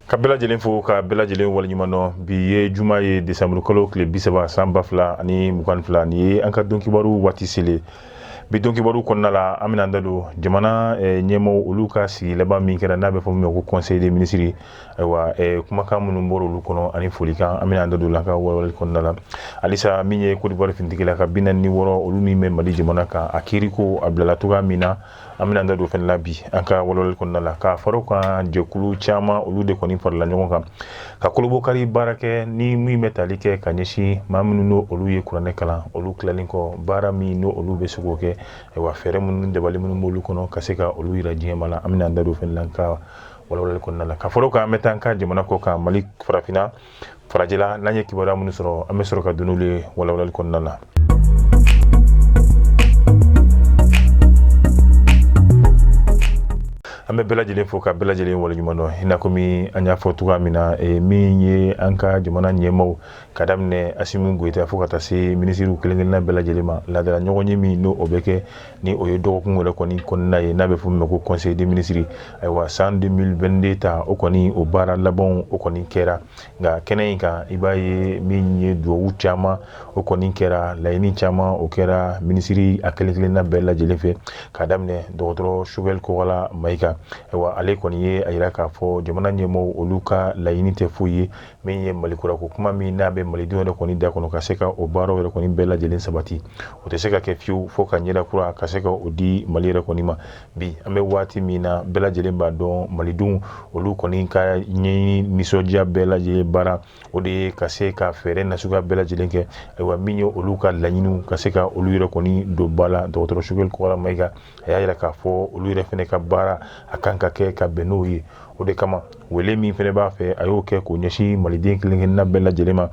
ka bɛɛ lajɛlen fo ka bɛɛ lajɛlen waleɲuman dɔn bi ye juma ye desanburu kalo tile bi saba san ba fila ani mugan fila ni ye an ka don kibaru waati selen bi don kibaru kɔnɔna la an bɛna an da don jamana eh, ɲɛmaaw olu ka sigi laban min kɛra n'a bɛ fɔ min ma ko conseil des ministres ayiwa kumakan minnu bɔra olu kɔnɔ ani folikan an bɛna an da don la ka walawalali kɔnɔna la halisa min ye kodiwari finitigi ka bi naani ni wɔɔrɔ olu min bɛ mali jamana kan a kiiri ko a bilala cogoya min na an bɛna an da don fɛnɛ la bi an ka walawalali kɔnɔna la ka fara kan jɛkulu caman olu de kɔni farala ɲɔgɔn kan ka kolobokari baara kɛ ni min bɛ tali kɛ ka ɲɛsin maa minnu n'o olu ye kuranɛ kalan olu tilalen kɔ baara min n'olu bɛ se k'o kɛ ayiwa fɛɛrɛ minnu dabali minnu b'olu kɔnɔ ka se ka olu yira diɲɛmaa la an bɛna an da don fɛnɛ la ka walawalali kɔnɔna la ka fara kan an bɛ taa an ka jamana kɔ kan mali farafinna farajɛla n'an ye kibaruya minnu sɔrɔ an bɛ sɔrɔ ka don n'olu ye walawalali kɔnɔna na an bɛ bɛɛ lajɛlen fo ka bɛɛ lajɛlen waleɲuman dɔn i n'a komi an y'a fɔ cogoya min na eh, min ye an ka jamana ɲɛmaaw ka daminɛ asimu goyita fo ka taa se minisiriw kelen kelenna bɛɛ lajɛlen ma laadala ɲɔgɔn ye min n'o o bɛ kɛ ni o ye dɔgɔkun wɛrɛ kɔni kɔnɔna ye n'a bɛ fɔ min ma ko conseil des ministres ayiwa san 2022 ta o kɔni o baara labanw o kɔni kɛra nka kɛnɛ in kan i b'a ye min ye duwawu caman o kɔni kɛra laɲini caman o kɛra minisiri a kelen kelenna bɛɛ lajɛlen fɛ k'a daminɛ dɔgɔtɔrɔ Choguel Kokala Mayiga ayiwa ale kɔni ye a yira k'a fɔ jamana ɲɛmɔgɔw olu ka laɲini tɛ foyi ye min ye mali kura ko kuma min n'a bɛ malidenw yɛrɛ kɔni da kɔnɔ ka se ka o baaraw yɛrɛ kɔni bɛɛ lajɛlen sabati o tɛ se ka kɛ fiyewu fo ka ɲɛda kura ka se ka o di mali yɛrɛ kɔni ma bi an bɛ waati min na bɛɛ lajɛlen b'a dɔn malidenw olu kɔni ka ɲɛɲini nisɔndiya bɛɛ lajɛlen baara o de ye ka se ka fɛɛrɛ nasuguya bɛɛ lajɛlen kɛ ayiwa min ye olu ka laɲiniw ka se ka olu yɛrɛ kɔni don ba la dɔgɔtɔrɔ Choguel Kokala Mayiga a y'a yira k'a fɔ olu yɛrɛ fɛnɛ ka baara a kan ka kɛ ka bɛn n'o ye o de kama wele min fɛnɛ b'a fɛ a y'o kɛ k'o ɲɛsin maliden kelenkelenna bɛɛ lajɛlen ma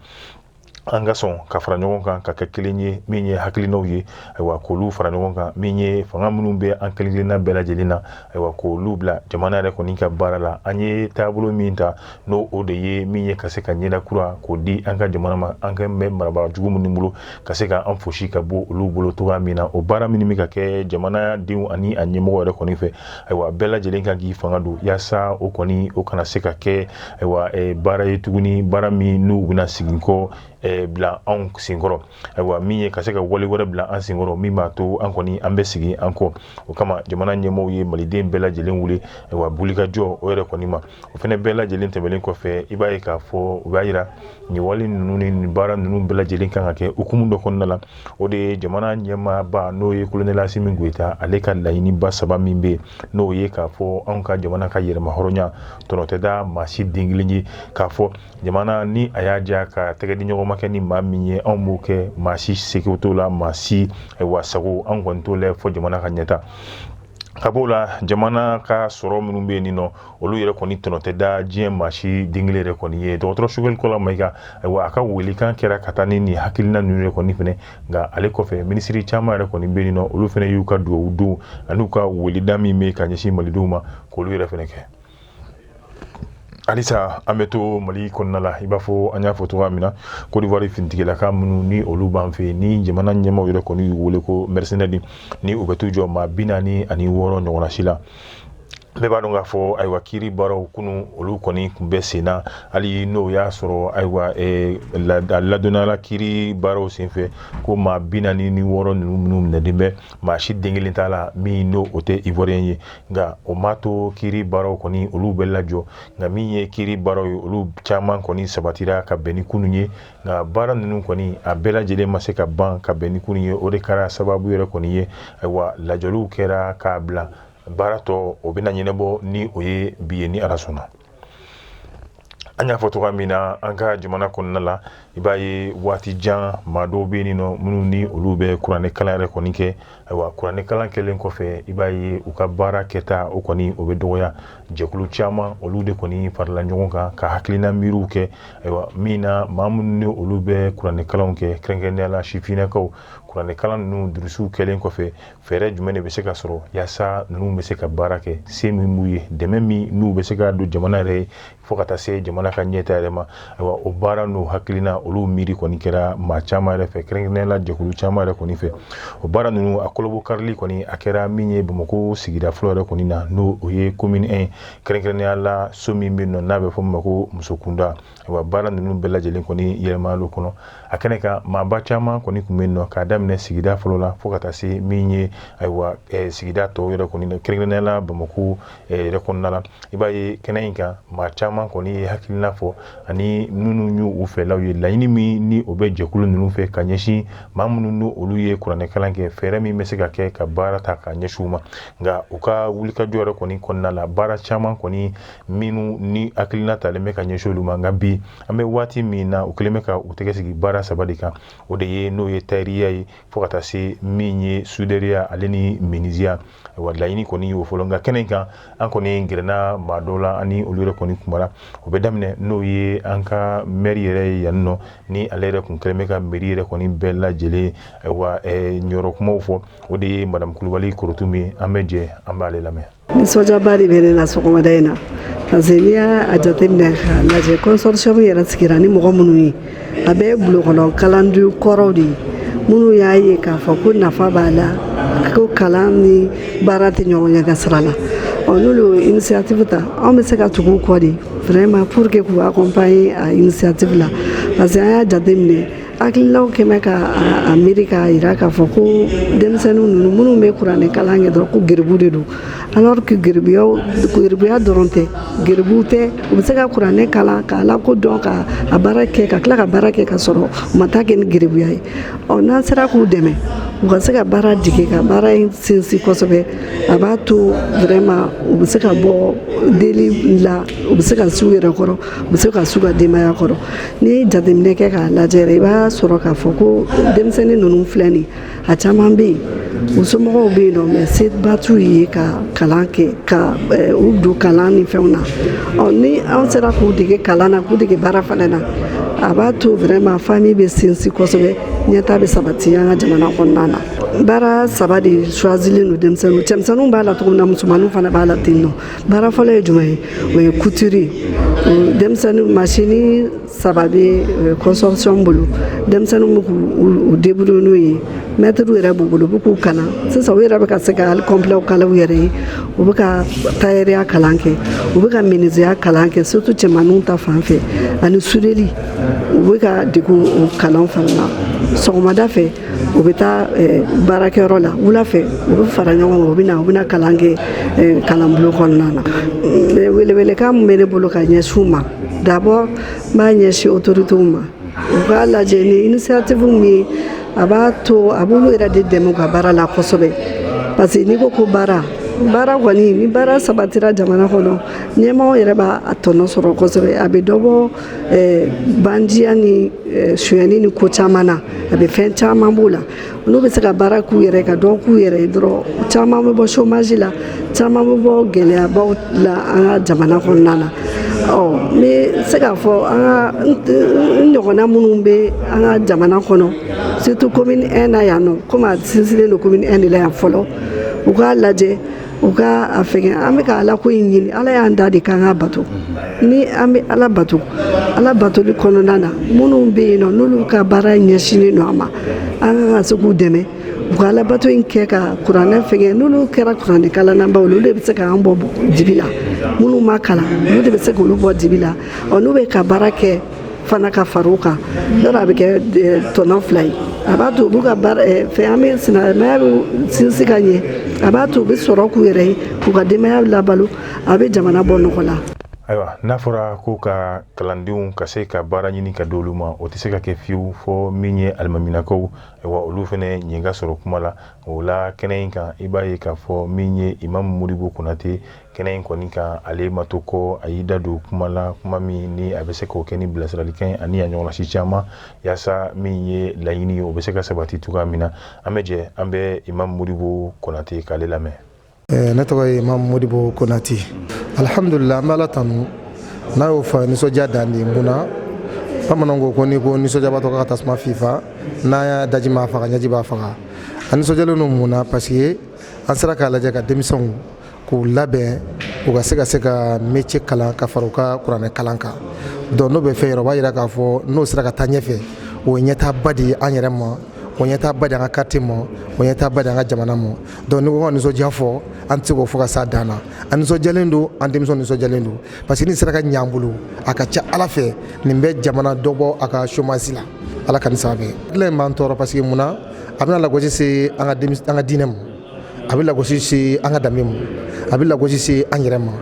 an ka sɔn ka fara ɲɔgɔn kan ka kɛ kelen ye min ye hakilinaw ye ayiwa k'olu fara ɲɔgɔn kan min ye fanga minnu bɛ an kelenkelenna bɛɛ lajɛlen na ayiwa k'olu bila jamana yɛrɛ kɔni ka baara la an ye taabolo min ta n'o o de ye min ye ka se ka ɲɛda kura k'o di an ka jamana ma an ka mɛn marabaa jugu minnu bolo ka se ka an fosi ka bɔ olu bolo cogoya min na o baara minnu bɛ ka kɛ jamana denw ani a ɲɛmɔgɔ yɛrɛ kɔni fɛ ayiwa bɛɛ lajɛlen kan k'i fanga don yaasa o kɔni o kana se ka kɛ ayiwa eh, baara ye tuguni baara min n'u bɛna segin kɔ eh, bila anw senkɔrɔ ayiwa min ye ka se ka wale wɛrɛ bila an senkɔrɔ min b'a to an kɔni an bɛ segin an kɔ o kama jamana ɲɛmɔgɔw ye maliden bɛɛ lajɛlen wele ayiwa wulikajɔ o yɛrɛ kɔni ma o fana bɛɛ lajɛlen tɛmɛnen kɔfɛ i b'a ye k'a fɔ u b'a jira nin wale ninnu ni baara ninnu bɛɛ lajɛlen kan ka kɛ hukumu dɔ kɔnɔna la o de ye jamana ɲɛmaaba n'o ye kolonɛli asimi goyita ale ka laɲiniba saba min bɛ yen n'o ye k'a fɔ anw ka jamana ka yɛrɛmahɔrɔnya tɔnɔ tɛ da maa si den kelen ye k'a fɔ jamana ni a y'a diya ka tɛgɛ di ɲɔgɔnma kɛ ni maa min ye anw b'o kɛ maa si seko t'o la maa si ayiwa sago anw kɔni t'o la fɔ jamana ka ɲɛtaa b'o la jamana ka sɔrɔ minnu bɛ yen nin nɔ olu yɛrɛ kɔni tɔnɔ tɛ da diɲɛ maa si den kelen yɛrɛ kɔni ye dɔgɔtɔrɔ sogɛli kokala mayiga ayiwa a ka welekan kɛra ka taa ni nin hakilina ninnu yɛrɛ kɔni fɛnɛ nka ale kɔfɛ minisiri caman yɛrɛ kɔni bɛ yen nin nɔ olu fɛnɛ y'u ka duwawu don an'u ka weleda min bɛ ka ɲɛsin malidenw ma k'olu yɛrɛ fɛnɛ kɛ halisa an bɛ to mali kɔnɔna la i b'a fɔ an y'a fɔ cogoya min na kodiwari finitigilaka minnu ni olu b'an fɛ ni jamana ɲɛmaaw yɛrɛ kɔni y'u wele ko mɛrisenɛri ni u bɛ t'u jɔ maa bi naani ani wɔɔrɔ ɲɔgɔnna si la bɛɛ b'a dɔn k'a fɔ ayiwa kiiri baaraw kunun olu kɔni tun bɛ sen na hali n'o y'a sɔrɔ ayiwa ladɔnniyala kiiri baaraw senfɛ ko maa bi naani ni wɔɔrɔ ninnu minnu minɛlen bɛ maa si den kelen t'a la min n'o o tɛ iwuwariyɛn ye nka o m'a to kiiri baaraw kɔni olu bɛ lajɔ nka min ye kiiri baaraw ye olu caman kɔni sabatira ka bɛn ni kunun ye nka baara ninnu kɔni a bɛɛ lajɛlen ma se ka ban ka bɛn ni kunun ye o de kɛra sababu yɛrɛ kɔni ye ayiwa lajɔliw kɛra k'a bila baara tɔ o bɛna ɲɛnabɔ ni o ye bi ye ni ala sɔnna an y'a fɔ cogoya min na an ka jamana kɔnɔna la i b'a ye waati jan maa dɔw bɛ yen nin nɔ minnu ni olu bɛ kuranɛkalan yɛrɛ kɔni kɛ Ayiwa kuranɛkalan kɛlen kɔfɛ i b'a ye u ka baara kɛta o kɔni o bɛ dɔgɔya jɛkulu caman olu de kɔni farila ɲɔgɔn kan ka hakilina miiriw kɛ ayiwa min na maa minnu ni olu bɛ kuranɛkalanw kɛ kɛrɛnkɛrɛnnenya la sifinnakaw kuranɛkalan ninnu durusiw kɛlen kɔfɛ fɛɛrɛ jumɛn de bɛ se ka sɔrɔ yaasa ninnu bɛ se ka baara kɛ se min b'u ye dɛmɛ min n'u bɛ se ka don jamana yɛrɛ ye fo ka taa se jamana ka ɲɛta yɛrɛ ma ayiwa o baara n'o hakilina olu miiri kɔni kɛra maa caman yɛrɛ fɛ kɛrɛnkɛrɛnnenya la jɛkulu caman yɛrɛ kɔni fɛ o baara ninnu a kolobo karili kɔni a kɛra min ye bamakɔ sigida fɔlɔ yɛrɛ kɔni na n'o o ye komini 1 kɛrɛnkɛrɛnnenya la so min bɛ yen nɔ n'a bɛ fɔ min ma ko musokunda ayiwa baara ninnu bɛɛ lajɛlen kɔni yɛlɛmala o kɔnɔ a kɛnɛ kan maaba caman kɔni tun bɛ yen nɔ k'a daminɛ sigida fɔlɔ la fo ka taa se min ye ayiwa sigida tɔw yɛrɛ kɔni kɛrɛnkɛrɛnnenya la bamakɔ yɛrɛ kɔnɔna la i b'a ye kɛnɛ in kan maa caman kɔni ye hakilina fɔ ani minnu y'u u fɛlaw ye laɲini min ni o bɛ jɛkulu ninnu fɛ ka ɲɛsin maa minnu n'o olu ye kuranɛkalan kɛ fɛɛrɛ min bɛ se ka kɛ ka baara ta ka ɲɛsin u ma nka u ka wulikajɔ yɛrɛ kɔni kɔnɔna la baara caman kɔni minnu ni hakilina talen bɛ ka ɲɛsin olu ma nka bi an bɛ waati min na u kɛlen bɛ ka u tɛgɛ sigi baara saba de kan o de ye n'o ye tayɛriya ye fo ka taa se min ye sudɛriya ale ni miniziya wa laɲini kɔni y'o fɔlɔ nka kɛnɛ kan an kɔni gɛrɛna maa dɔw la ani olu yɛrɛ kɔni kumara o bɛ daminɛ n'o ye an ka mɛri yɛrɛ ye yan nɔ ni ale yɛrɛ kun kɛlen bɛ ka mɛri yɛrɛ kɔni bɛɛ lajɛlen wa jɔyɔrɔ kumaw fɔ o de ye madamu kulubali korotumu ye an bɛ jɛ an b'ale lamɛn Nisɔndiyaba de bɛ ne na sɔgɔmada in na parce que n'i y'a jateminɛ k'a lajɛ consortium yɛrɛ sigira ni mɔgɔ minnu ye a bɛɛ ye bulonkɔnɔ kalanden kɔrɔw de ye minnu y'a ye k'a fɔ ko nafa b'a la ko kalan ni baara tɛ ɲɔgɔn ɲɛ ka sira la ɔ n'olu ye initiative ta anw bɛ se ka tugu u kɔ de vraiment pour que k'u accompagner a initiative la parce que an y'a jateminɛ Hakililaw kɛ bɛ ka a miiri k'a jira k'a fɔ ko denmisɛnnin ninnu minnu bɛ kuranɛ kalan kɛ dɔrɔn ko geribu de don alors que geribuya dɔrɔn tɛ geribu tɛ u bɛ se ka kuranɛ kalan k'a lakodɔn ka a baara kɛ ka tila ka baara kɛ ka sɔrɔ u ma taa kɛ ni geribuya ye ɔ n'an sera k'u dɛmɛ u ka se ka baara dege ka baara in sinsin kosɛbɛ a b'a to vraiment u bɛ se ka bɔ deli la u bɛ se ka s'u yɛrɛ kɔrɔ u bɛ se ka s'u ka denbaya kɔrɔ N'i ye jateminɛ kɛ k'a lajɛ yɛrɛ i b'a sɔrɔ k'a fɔ ko denmisɛnnin ninnu filɛ nin ye a caman bɛ yen u somɔgɔw bɛ yen nɔ mais seba t'u ye ka kalan kɛ ka eh, u don kalan ni fɛnw na ɔ ni an sera k'u dege kalan na k'u dege baara fana na a b'a to vraiment famille bɛ sinsin kosɛbɛ ɲɛta bɛ sabati an ka jamana kɔnɔna na baara saba de choisilen don denmisɛnninw cɛmisɛnninw b'a la cogo min na musomaninw fana b'a la ten nɔ baara fɔlɔ ye jumɛn ye o ye couture denmisɛnnin masini saba bɛ consortium bolo denmisɛnnin bɛ k'u débrouiller n'o ye mɛtiriw yɛrɛ b'u bolo u bɛ k'u kalan sisan u yɛrɛ bɛ ka se ka hali kɔnpilɛw kala u yɛrɛ ye u bɛ ka tayɛriya kalan kɛ u bɛ ka miniziya kalan kɛ surtout cɛmanninw ta fan fɛ ani sudeli u bɛ ka dege o kalan fana na sɔgɔmada fɛ u bɛ taa eh, baarakɛyɔrɔ la wula fɛ u bɛ fara ɲɔgɔn kan u bɛ na u bɛna kalan kɛ eh, kalanbulon kɔnɔna na mm, welewelekan min bɛ ne bolo ka ɲɛsin u ma d'abord n b'a ɲɛsin autorités ma u k'a lajɛ ni initiative min ye a b'a to a b'olu yɛrɛ de dɛmɛ u ka baara la kosɛbɛ parce que n'i ko ko baara baara kɔni ni baara sabatira jamana kɔnɔ ɲɛmɔgɔ yɛrɛ b'a tɔnɔ sɔrɔ kosɛbɛ a bɛ dɔ bɔ Eh, bandiya ni eh, sonyani ni ko caman na a bɛ fɛn caman b'o la n'u bɛ se ka baara k'u yɛrɛ ka dɔ k'u yɛrɛ ye dɔrɔn caman bɛ bɔ chômage la caman bɛ bɔ gɛlɛyabaw la an ka jamana kɔnɔna na ɔ n bɛ se k'a fɔ an ka n ɲɔgɔnna minnu bɛ an ka jamana kɔnɔ surtout commune 1 na yan nɔ komi a sinsinnen don commune 1 de la yan fɔlɔ u k'a lajɛ u ka a fɛngɛ an bɛ ka ala ko in ɲini ala y'an da de k'an k'a bato ni an bɛ ala bato ala batoli kɔnɔna na minnu bɛ yen nɔ n'olu ka baara ɲɛsinnen don a ma an ka ka se k'u dɛmɛ u ka ala bato in kɛ ka kuranɛ fɛngɛ n'olu kɛra kuranɛ kalannabaw olu de bɛ se k'an bɔ dibi la minnu ma kalan olu de bɛ se k'olu bɔ dibi la ɔ n'u bɛ ka baara kɛ fana ka far'o kan yɔrɔ a bɛ kɛ tɔnɔ fila ye a b'a to u b'u ka fɛn an bɛ silamɛya bɛ sinsin ka ɲɛ a b'a to u bɛ sɔrɔ k'u yɛrɛ ye k'u ka denbaya labalo a bɛ jamana bɔ nɔgɔ la ayiwa n'a fɔra ko ka kalandenw ka se ka baara ɲini ka di olu ma o tɛ se ka kɛ fiyewu fɔ min ye alimaminakaw ayiwa olu fana ɲɛ ka sɔrɔ kuma la o la kɛnɛ in kan i b'a ye k'a fɔ min ye imamu modibo konate kɛnɛ in kɔni kan ale ma to kɔ a y'i da don kuma la kuma min ni a bɛ se k'o kɛ ni bilasiralikan ani a ɲɔgɔnnasi caman yaasa min ye laɲini o bɛ se ka sabati cogoya min na an bɛ jɛ an bɛ imamu modibo konate k'ale lamɛn eh, ne tɔgɔ ye imamu modibo konate alihamdulila an bɛ ala tanu n'a y'o fɔ nisɔndiya dan de mun na bamananw ko ko n'i ko nisɔndiyabatɔ ka tasuma fifa n'a y'a daji m'a faga ɲɛji b'a faga an nisɔndiyalen don mun na parce que an sera k'a lajɛ ka denmisɛnw k'u labɛn u ka se ka se ka métier kalan ka fara u ka kuranɛ kalan kan donc n'o bɛ fɛn yɔrɔ b'a jira k'a fɔ n'o sera ka taa ɲɛfɛ o ɲɛtaaba de ye an yɛrɛ ma o ɲɛtaaba de an ka quartier ma o ɲɛtaaba de an ka jamana ma donc ni ko ka nisɔndiya fɔ an tɛ se k'o fɔ ka s'a dan na an nisɔndiyalen don an denmisɛnw nisɔndiyalen don parce que nin sera ka ɲɛ an bolo a ka ca ala fɛ nin bɛ jamana dɔ bɔ a ka chômage la ala ka sababu in b'an tɔɔrɔ parce que mun na a bɛna lagosi se an ka diinɛ ma a bɛ lagosi se an ka danbe ma a bɛ lagosi se an yɛrɛ ma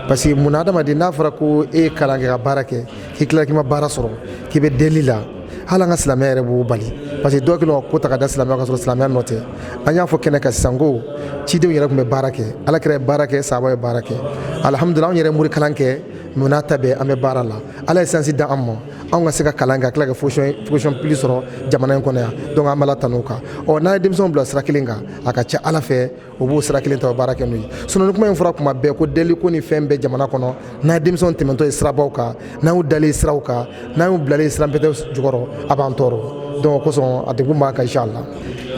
parce que mun na adamaden n'a fɔra ko e ye kalan kɛ ka baara kɛ k'i tila k'i ma baara sɔrɔ k'i bɛ deli la hali an ka silamɛya yɛrɛ b'o bali parce que dɔw kɛlen don ka ko ta ka da silamɛya kan ka sɔrɔ silamɛya nɔ tɛ an y'a fɔ kɛnɛ kan sisan ko cidenw yɛrɛ tun bɛ baara kɛ Alakira ye baara kɛ sahabaw ye baara kɛ alihamudulila anw yɛrɛ ye morikalan kɛ mais o n'a ta bɛɛ an bɛ baara la Ala ye sansi d'an ma anw ka se ka kalan kɛ ka tila ka fonction publique sɔrɔ jamana in kɔnɔ yan donc an b'ala tanu o kan ɔ n'a ye denmisɛnw bila sira kelen kan a ka ca ala fɛ o b'o sira kelen ta baara kɛ n'o ye sinon ni kuma in fɔra kuma bɛɛ ko deli ko ni fɛn bɛɛ jamana kɔnɔ n'an ye denmisɛnw tɛmɛntɔ ye sirabaw kan n'an y'u dalen siraw kan n'an y'u bilalen siranpɛtɛ jukɔrɔ a b'an tɔɔrɔ donc o kosɔn a degun b'an kan inchallah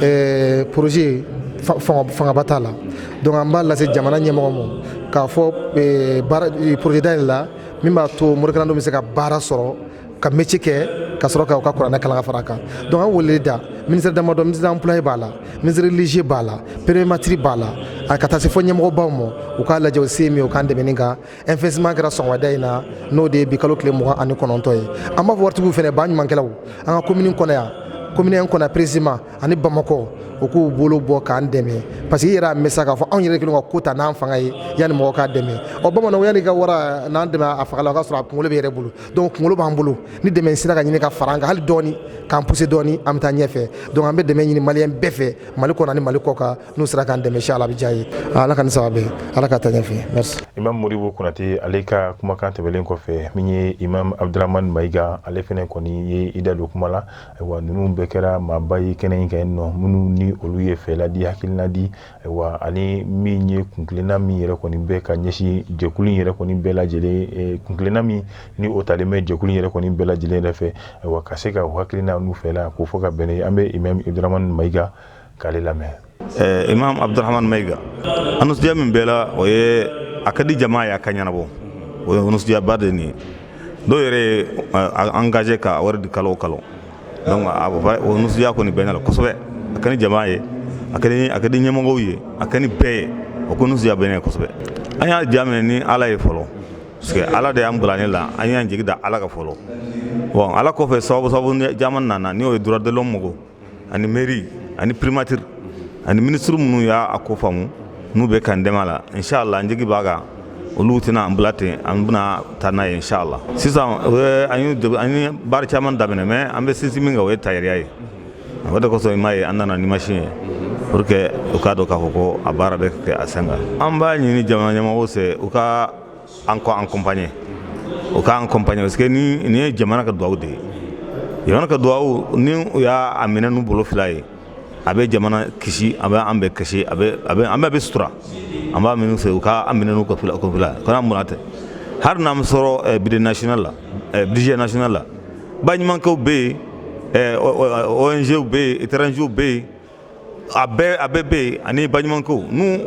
ɛɛ projet fangaba t'a la donc an b'a lase jamana ɲɛmɔgɔ ma k'a fɔ projet dayɛlɛ la min b'a to morikalandenw bɛ se ka baara sɔrɔ ka métier kɛ ka sɔrɔ ka u ka kuranɛ kalan ka fara a kan donc an weleli da ministère damadɔ ministère emploi b'a la ministère religieux b'a la primature b'a la a ka taa se fɔ ɲɛmɔgɔbaw ma u k'a lajɛ u se min u k'an dɛmɛ nin kan investissement kɛra sɔgɔmada in na n'o de ye bi kalo tile mugan ani kɔnɔntɔn ye an b'a fɔ waritigiw fana ba ɲumankɛlaw an ka commune kɔnɔ yan commune kɔnɔ précisément ani bamakɔ u k'u bolo bɔ k'an dɛmɛ parce que i yɛrɛ y'a mɛn k'a fɔ anw yɛrɛ kelen ka ko ta n'an fanga ye yanni mɔgɔ k'an dɛmɛ ɔ bamananw yan n ka wara na n dɛmɛ a faga la o k'a sɔrɔ a kunkolo b'i yɛrɛ bolo donc kunkolo b'an bolo ni dɛmɛ sera ka ɲini ka fara an kan hali dɔɔnini k'an pousser dɔɔnini an bɛ taa ɲɛfɛ donc an bɛ dɛmɛ ɲini maliyɛn bɛɛ fɛ mali kɔnɔ ni mali kɔ kan n'u sera k'an dɛmɛ inshallah a bɛ diya an ye ala k'a sabati ala ka taa ɲɛfɛ imam modibo konate ale ka kumakan tɛmɛlen kɔfɛ min ye imam abdurahman maiga ale fana kɔni ye i da don kuma la Ayiwa ninnu bɛɛ kɛra maaba ye kɛnɛ in kan yen nɔ minnu ni olu ye fɛla di hakilina di ayiwa ani min ye kuntilenna min yɛrɛ kɔni bɛ ka ɲɛsin jɛkulu in yɛrɛ kɔni bɛɛ lajɛlen kuntilenna min ni o talen bɛ jɛkulu in yɛrɛ kɔni bɛɛ lajɛlen yɛrɛ fɛ ayiwa ka se ka o hakilina n'u fɛla k'o fɔ ka bɛn an bɛ imam abdurahman maiga k'ale lamɛn eh, imam abdurahman maiga a nisɔndiya min bɛ ne la o ye a ka di jama ye a ka ɲɛnabɔ o ye nisɔndiyaba de nin ye dɔw yɛrɛ ye eh, engagé ka a wari di kalo o kalo donc o nisɔndiya kɔni bɛ ne la kosɛbɛ a ka ɲi jama ye a ka ɲi a ka di ɲɛmɔgɔw ye a ka ɲi bɛɛ ye o ko nisɔndiya bɛ ne la kosɛbɛ an y'a daminɛ ni ala ye fɔlɔ parce que ala de y'an bila nin na an y'an jigi da ala kan fɔlɔ bon ala kɔfɛ sababu sababu caman nana n'o ye droit de l'homme mɔgɔw ani mairie ani primature ani ministre minnu y'a a ko faamu n'u bɛ k'an dɛmɛ a la inshallah an jigi b'a kan olu tɛna an bila ten an bɛna taa n'a ye inshallah sisan an ye an ye baara caman daminɛ mais an bɛ sinsin min kan o ye tayɛriya ye o de kosɔn i m'a ye an nana ni machine ye pour que u k'a dɔn k'a fɔ ko a baara bɛ kɛ a sen kan an b'a ɲini jamana ɲɛmɔgɔw fɛ u ka an accompagner u k'an accompagner parce que nin ye jamana ka dugawu de ye jamana ka dugawu ni u y'a minɛ n'u bolo fila ye a bɛ jamana kisi a bɛ an bɛɛ kisi an bɛɛ bɛ sutura an b'a ɲini u fɛ u k'an minɛ n'u ka kɔfila ka mura tɛ hali n'an m'a sɔrɔ budget national la budget national la baɲumankɛw bɛ yen ONGw bɛ yen étrangers bɛ yen a bɛɛ a bɛɛ bɛ yen ani baɲumankɛw ni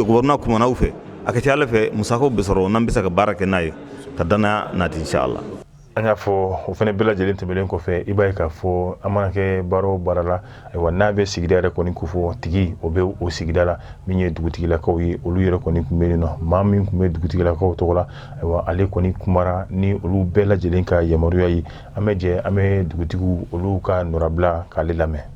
gouvernement kumana u fɛ a ka ca Ala fɛ musakaw bɛ sɔrɔ n'an bɛ se ka baara kɛ n'a ye ka danaya nati inchallah an y'a fɔ o fana bɛɛ lajɛlen tɛmɛlen kɔfɛ i b'a ye k'a fɔ an mana kɛ baara o baara la ayiwa n'a bɛ sigida yɛrɛ kɔni ko fɔ tigi o bɛ o sigida la min ye dugutigilakaw ye olu yɛrɛ kɔni tun bɛ yen nɔ maa min tun bɛ dugutigilakaw tɔgɔ la ayiwa ale kɔni kumara ni olu bɛɛ lajɛlen ka yamaruya ye an bɛ jɛ an bɛ dugutigiw olu ka nɔrabila k'ale lamɛn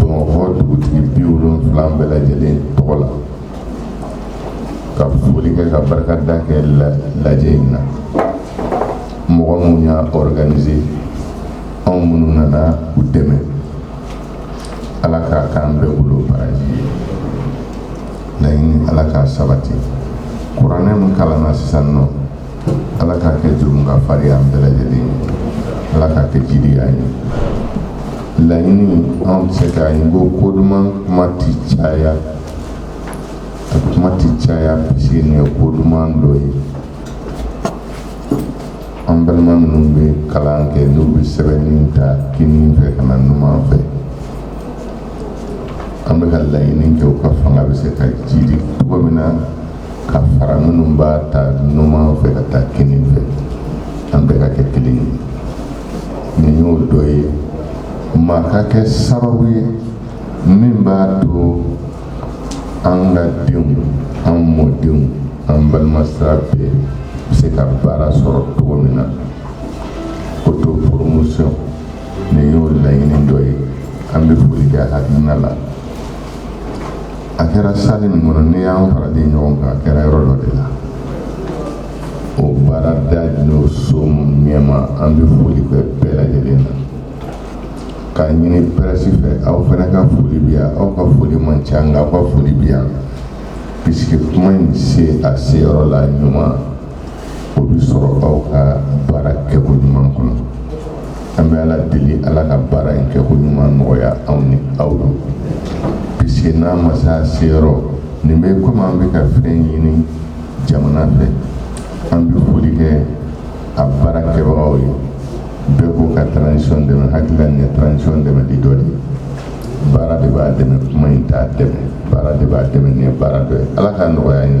bamakɔ dugutigi bi wolonwula bɛɛ lajɛlen tɔgɔ la ka foli kɛ ka barikada kɛ lajɛ in na mɔgɔ minnu y'a organiser anw minnu nana u dɛmɛ ala k'a k'an bɛɛ bolo baraji ye laɲini ala k'a sabati kuranɛ min kalanna sisan nɔ Ala k'a kɛ jurumu kafari an bɛɛ lajɛlen ye ala k'a kɛ jiidi an ye laɲini anw cɛ k'a ye ko ko duman kuma tɛ caya a kuma tɛ caya puisque nin ye ko duman dɔ ye an balima minnu bɛ kalan kɛ n'u bɛ sɛbɛnni ta kini fɛ ka na numan fɛ an bɛ ka laɲini kɛ u ka fanga bɛ se ka jiidi cogo min na ka fara minnu b'a ta numan fɛ ka taa kini fɛ an bɛɛ ka kɛ kelen ye nin y'o dɔ ye maa ka kɛ sababu ye min b'a to an ka denw an mɔdenw an balima sira bɛɛ bɛ se ka baara sɔrɔ cogo min na auto promotion nin y'o laɲini dɔ ye an bɛ foli kɛ hakilina la a kɛra sali nin kɔnɔ n'i y'an faralen ɲɔgɔn kan a kɛra yɔrɔ dɔ de la o baarada n'o so ɲɛma an bɛ foli kɛ bɛɛ lajɛlen na k'a ɲini pɛrɛsi fɛ aw fana ka foli bi yan aw ka foli man ca nka aw ka foli bi yan puisque kuma in se a seyɔrɔ la ɲuman o bɛ sɔrɔ aw ka baara kɛko ɲuman kɔnɔ an bɛ ala deli ala ka baara in kɛko ɲuman nɔgɔya anw ni aw ye puisque n'a ma se a seyɔrɔ nin bɛ komi an bɛ ka fɛn ɲini jamana fɛ an bɛ foli kɛ a baara kɛbagaw ye bɛɛ ko ka transition dɛmɛ hakilila nin ye transition dɛmɛli dɔ de ye baara de b'a dɛmɛ kuma in t'a dɛmɛ baara de b'a dɛmɛ nin ye baara dɔ ye ala k'a nɔgɔya ye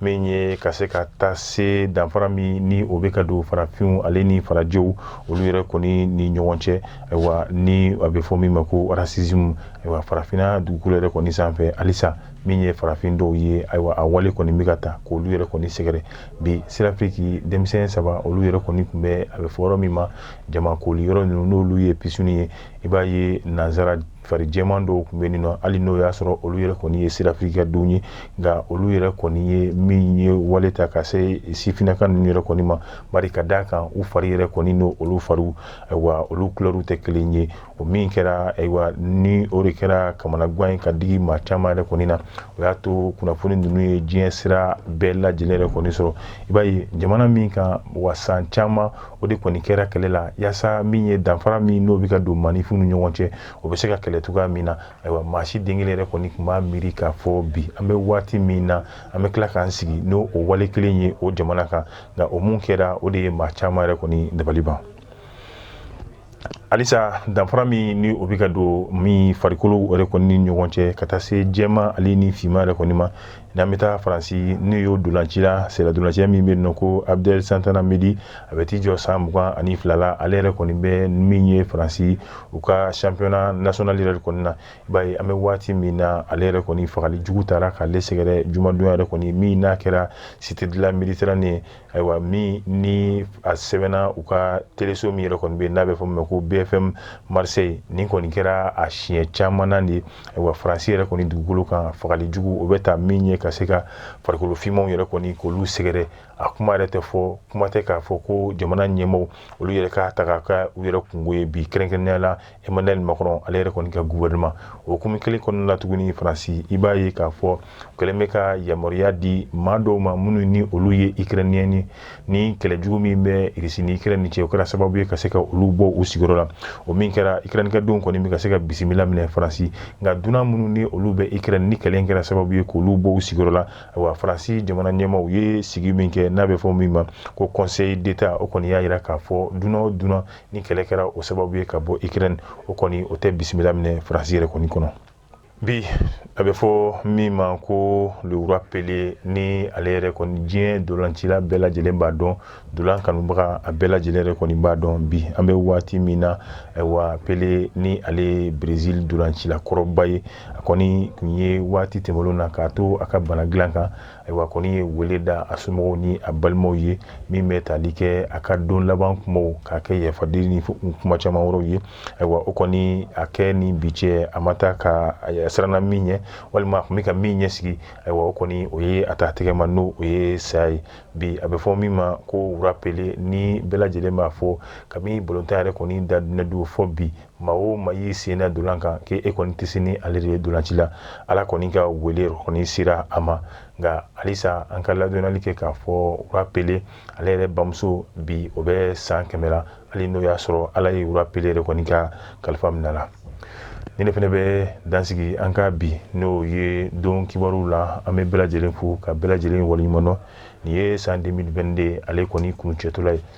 min ye ka se ka taa se danfara min ni o bɛ ka don farafinw ale ni farajɛw olu yɛrɛ kɔni ni ɲɔgɔn cɛ ayiwa ni a bɛ fɔ min ma ko racisme ayiwa farafinna dugukolo yɛrɛ kɔni sanfɛ halisa min ye farafin dɔw ye ayiwa a wale kɔni bɛ ka ta k'olu yɛrɛ kɔni sɛgɛrɛ bi Sud-Afrique denmisɛn saba olu yɛrɛ kɔni tun bɛ a bɛ fɔ yɔrɔ min ma jama koli yɔrɔ ninnu n'olu ye pisini ye i b'a ye nansara fari jɛman dɔw tun bɛ nin nɔ hali n'o y'a sɔrɔ olu yɛrɛ kɔni ye Sud-Afrique denw ye nka olu yɛrɛ kɔni ye min ye wale ta ka se sifinaka ninnu yɛrɛ kɔni ma bari ka d'a kan u fari yɛrɛ kɔni n'o olu fariw ayiwa olu kulɛriw tɛ kelen ye o min kɛra ayiwa ni o de kɛra kamanagan ye ka digi maa caman yɛrɛ kɔni na o y'a to kunnafoni ninnu ye diɲɛ sira bɛɛ lajɛlen yɛrɛ kɔni sɔrɔ i b'a ye jamana min kan wa san caman o de kɔni kɛra kɛlɛ la yaasa min ye danfara min n'o bɛ ka don maaninfinw ni ɲɔgɔn cɛ o bɛ se ka kɛlɛ cogoya min na ayiwa maa si den kelen yɛrɛ kɔni tun m'a miiri k'a fɔ bi an bɛ waati min na an bɛ tila k'an sigi n'o o wale kelen ye o jamana kan nka o mun kɛra o de ye maa caman yɛrɛ kɔni dabali ban halisa danfara min ni o bɛ ka don min farikolo yɛrɛ kɔni ni ɲɔgɔn cɛ ka taa se jɛma ale ni fima yɛrɛ kɔni ma n'an bɛ taa faransi n'o y'o dolancila sɛdolacɛ min bɛ nɔ ko abdel santana mendy a bɛ t'i jɔ san mugan ani fila la ale yɛrɛ kɔni bɛ min ye faransi u ka championnat national yɛrɛ kɔni na ba an bɛ waati min na ale yɛrɛ kɔni fagali jugu taara k'ale sɛgɛrɛ jumadon yɛrɛ kɔni min n'a kɛra cité de la méditerranée ayiwa min ni a sɛbɛnna u ka teleso min yɛrɛ kɔni bɛ n'a bɛ fɔ ma ko bfm marseille nin kɔni kɛra a siɲɛ caman na de ayiwa faransi yɛrɛ kɔni dugukolo kan fagali jugu o bɛ taa min ye ka se ka farikolo fimaw yɛrɛ kɔni k'olu sɛgɛrɛ a kuma yɛrɛ tɛ fɔ kuma tɛ k'a fɔ ko jamana ɲɛmaaw olu yɛrɛ k'a ta k'a kɛ u yɛrɛ kunko ye bi kɛrɛnkɛrɛnnenya la Emmanuel Macron ale yɛrɛ kɔni ka gouvernement o hukumu kelen kɔnɔna la tuguni Faransi i b'a ye k'a fɔ u kɛlen bɛ ka yamaruya di maa dɔw ma minnu ni olu ye Ukrainien ye ni kɛlɛ jugu min bɛ Russie ni Ukraine ni cɛ o kɛra sababu ye ka se ka olu bɔ u sigiyɔrɔ la o min kɛra Ukraine ka denw kɔni bɛ ka se ka bisimila minɛ Faransi nka dunan minnu ni olu bɛ Ukraine ni kɛlɛ in kɛra sababu ye k'olu bɔ u sigiyɔrɔ la ayiwa Faransi jamana ɲɛmaaw u ye sigi min kɛ n'a bɛ fɔ min ma ko Conseil d'État o kɔni y'a jira k'a fɔ dunan o dunan ni kɛlɛ kɛra o sababu ye ka bɔ ukraine o kɔni o tɛ bisimila minɛ faransi yɛrɛ kɔni kɔnɔ bi a bɛ fɔ min ma ko le roi pelé ni ale yɛrɛ kɔni diɲɛ dolancila bɛɛ lajɛlen b'a dɔn dolan kanubaga a bɛɛ lajɛlen yɛrɛ kɔni b'a dɔn bi an bɛ waati min na ayiwa pelé ni ale ye brezil dolancila kɔrɔba ye a kɔni tun ye waati tɛmɛlen na k'a to a ka bana dilan kan Ayiwa kɔni ye weele da a somɔgɔw ni a balimaw ye min bɛ tali kɛ a ka don laban kumaw k'a kɛ yafadeli ni kuma caman wɛrɛw ye ayiwa o kɔni a kɛ ni bi cɛ a ma taa ka siranna min ɲɛ walima a tun bɛ ka min ɲɛsigi ayiwa o kɔni o ye a ta tɛgɛ ma n'o ye saya ye bi a bɛ fɔ min ma ko roi pelé ni bɛɛ lajɛlen b'a fɔ kabini balontan yɛrɛ kɔni da don fo bi maa o maa y'i sen da dolan kan k'e kɔni tɛ se ni ale de ye dolanci la ala kɔni ka wele kɔni sera a ma nka halisa an ka ladɔnni kɛ k'a fɔ roi pelé ale yɛrɛ bamuso bi o bɛ san kɛmɛ la hali n'o y'a sɔrɔ ala ye roi pelé yɛrɛ kɔni ka kalifa minɛ a la ni ne fana bɛ dan sigi an ka bi n'o ye don kibaruw la an bɛ bɛɛ lajɛlen fo ka bɛɛ lajɛlen waleɲuman dɔn nin ye san 2022 de ale kɔni kuncɛtɔla ye